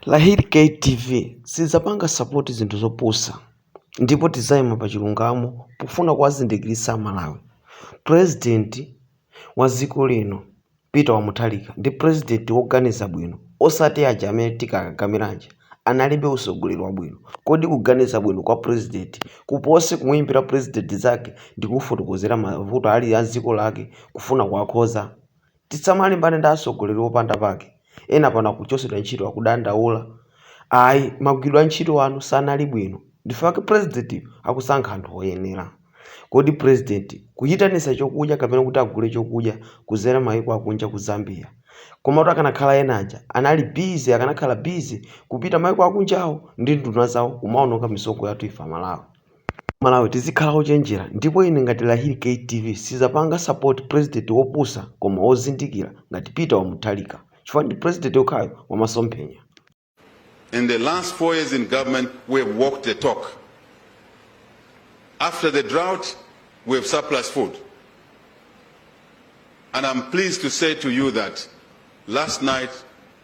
Lahir Kay TV sidzapanga sapoti zinthu zopusa ndipo tidzaima pa chilungamo pofuna kuwazindikiritsa Amalawi. Pulezidenti wa dziko lino Peter wa Mutharika ndi pulezidenti woganiza bwino osati aja amene tikakakamira aja. Analibe utsogoleri wabwino. Kodi kuganiza bwino kwa pulezidenti kupose kumuimbira pulezidenti nzake ndi kufotokozera mavuto ali a dziko lake kufuna kuwakhoza? Tisamalimbane ndi atsogoleri opanda pake, ena pano akuchosedwa ntchito akudandaula ayi magwiridwe antchito anu sanali bwino nchifukwa chake president yu akusankha anthu oyenera. Kodi president kuyitanisa chokudya kapena kuti agule chokudya kuzera mayiko akunja ku Zambia komatu akanakhala ena aja anali busy akanakhala busy kupita mayiko akunjawo ndi nduna zawo kumaononga misonkho yathu ife amalawi. Amalawi tizikhala ochenjera ndipo ine ngati Lahiri K TV sizapanga support president wopusa koma wozindikira ngati Peter wa Mutharika chifukwa ndi president yokhayo wa masomphenya. In the last four years in government, we have walked the talk. After the drought, we have surplus food. And I'm pleased to say to you that last night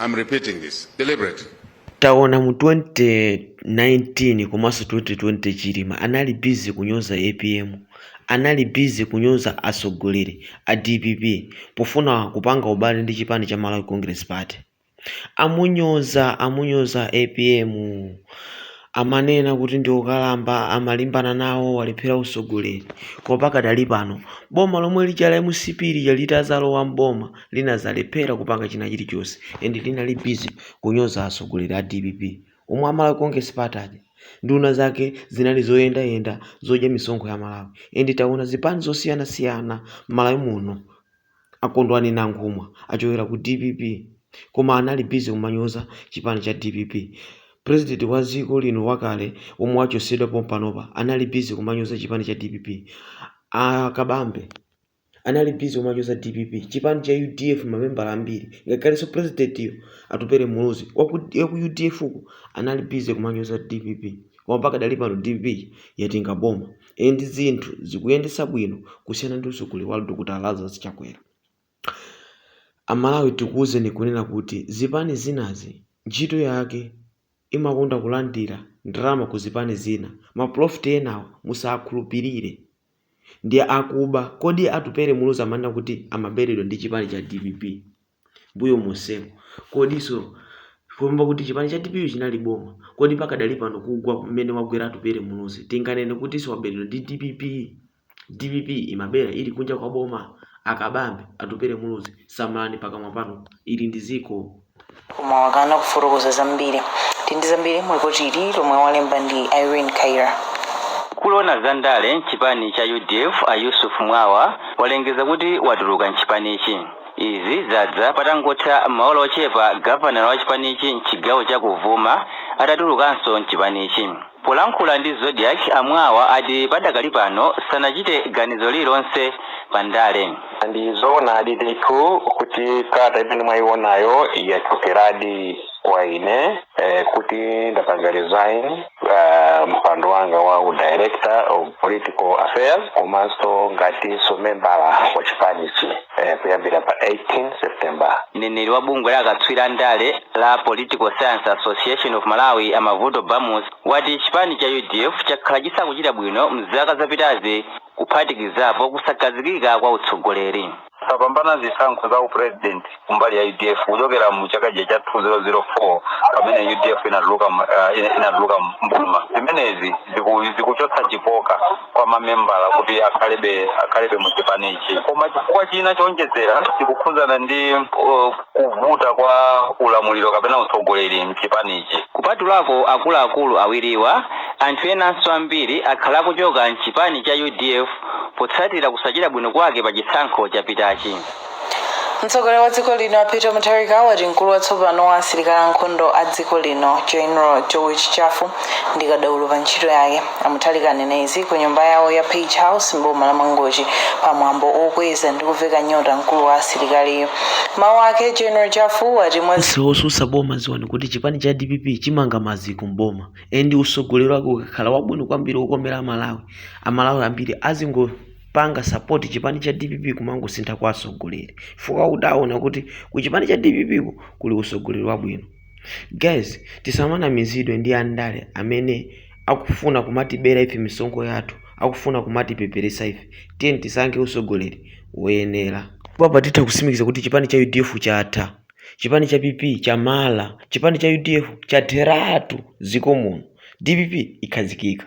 I'm repeating this deliberately. taona mu 2019 komanso 2020 chilima anali bizi kunyoza apm anali bizi kunyoza atsogoleri a dpp pofuna kupanga ubale ndi chipani cha malawi congress party amunyoza amunyoza apm amanena kuti ndi okalamba amalimbana nawo walephera utsogoleri koma pakadali pano boma lomwe lija la mcp lija litadzalowa mboma linazalephera kupanga china chilichonse and linali busy kunyoza asogoleli a dpp omwe a Malawi congress party aja nduna zake zinali zoyenda yenda zodya misonkho ya Amalawi and taona zipani zosiyana siyana Malawi muno akondwani nankhumwa achokera ku dpp koma anali busy kumanyoza chipani cha dpp president wa ziko lino wakale omwe wachosedwa pompanopa anali busy kumanyoza chipani cha dpp a kabambe anali busy kumanyoza dpp chipani cha udf mamembala ambiri ngakhalenso president yo atupele muluzi waku udf ko anali busy kumanyoza dpp koma pakadali pano dpp yatenga boma and zinthu zikuyendesa bwino kusiyana ndi usogoleri wa Dr Lazarus chakwera amalawi tikuuzeni kunena kuti zipani zinazi ntchito yake imakonda kulandira ndalama ku zipani zina. Ma prophet enawo musakhulupilire. Ndi akuba. Kodi Atupele Muluzi amanena kuti amaberedwa ndi chipani cha dpp mbuyo monsemu? Kodiso kupamba kuti chipani cha dpp chinali boma, kodi pakadali pano kugwa mmene wagwera Atupele Muluzi tinganene kutiso waberedwa ndi dpp? DPP imabera ili kunja kwa boma a Kabambe, Atupele Muluzi samalani pakamwa panu ili ndi ziko. Koma wakana kufotokoza zambiri. Tili ndi zambiri mu lipoti ili lomwe walemba ndi Irene Kaira. Mkulu oona za ndale mchipani cha UDF a Yusuf Mwawa walengeza kuti watuluka mchipanichi. Izi zadza patangotha maola ochepa gavanala wa chipanichi mchigawo cha kummawa atatulukanso mchipanichi. Polankhula ndi Zodiak, a Mwawa ati padakali pano sanachite ganizo lililonse pa ndale. Ndi zoonadi ndithu kuti kalata imene mwayionayo yachokeradi kwa ine kuti ndapanga resign mpando wanga wa u Director of Political Affairs komanso ngatinso membala wa chipanichi. eh, kuyambira pa 18 september mneneri wa bungwe la akatswiri a ndale la Political Science Association of Malawi a Mavuto Bamusi wati chipani cha UDF chakhala chisakuchita bwino mzaka zapitazi kuphatikizapo kusakhazikika kwa utsogoleri sapambana zisankho za u president kumbali ya UDF kuchokera mu chaka cha 2004 pamene UDF inatuluka mu- ah, ina- inatuluka mboma zimenezi ziku- zikuchotsa chikoka kwa mamembala kuti akhalebe akhalebe mu chipanichi koma chifukwa china choonjezera chikukhudzana ndi uh, kuvuta kwa ulamuliro kapena utsogoleri mchipanichi kupatulako akuluakulu awiriwa anthu enanso ambiri akhala akuchoka mchipani cha UDF potsatira kusachita bwino kwake pa chisankho chapitachi Mtsogoleri wa dziko lino a Peter Mutharika wati mkulu watsopano wa asilikali ankhondo a dziko lino General George Jaffu ndi kadaulo pa ntchito yake. A Mutharika anena izi ku nyumba yawo ya Page House m'boma la Mangochi pa mwambo okweza ndi kuveka nyota mkulu wa asilikaliyu. Mawu ake General Jaffu wati nonse osusa boma dziwani kuti chipani cha DPP chimanga maziko mboma and usogoleri wake ukakhala wabwino kwambiri okomera amalawi amalawi ambiri azingo panga support chipani cha DPP kumangosintha kwa atsogoleri chifukwa choti aona kuti ku chipani cha DPP ko kuli utsogoleri wabwino guys tisamanamizidwe ndi andale amene akufuna kumatibera ife misonkho yathu akufuna kumatipeperetsa ife tiyeni tisankhe utsogoleri woyenera apa titha kusimikiza kuti chipani cha UDF chatha chipani cha PP chamala chipani cha UDF chatheratu dziko muno DPP ikhazikika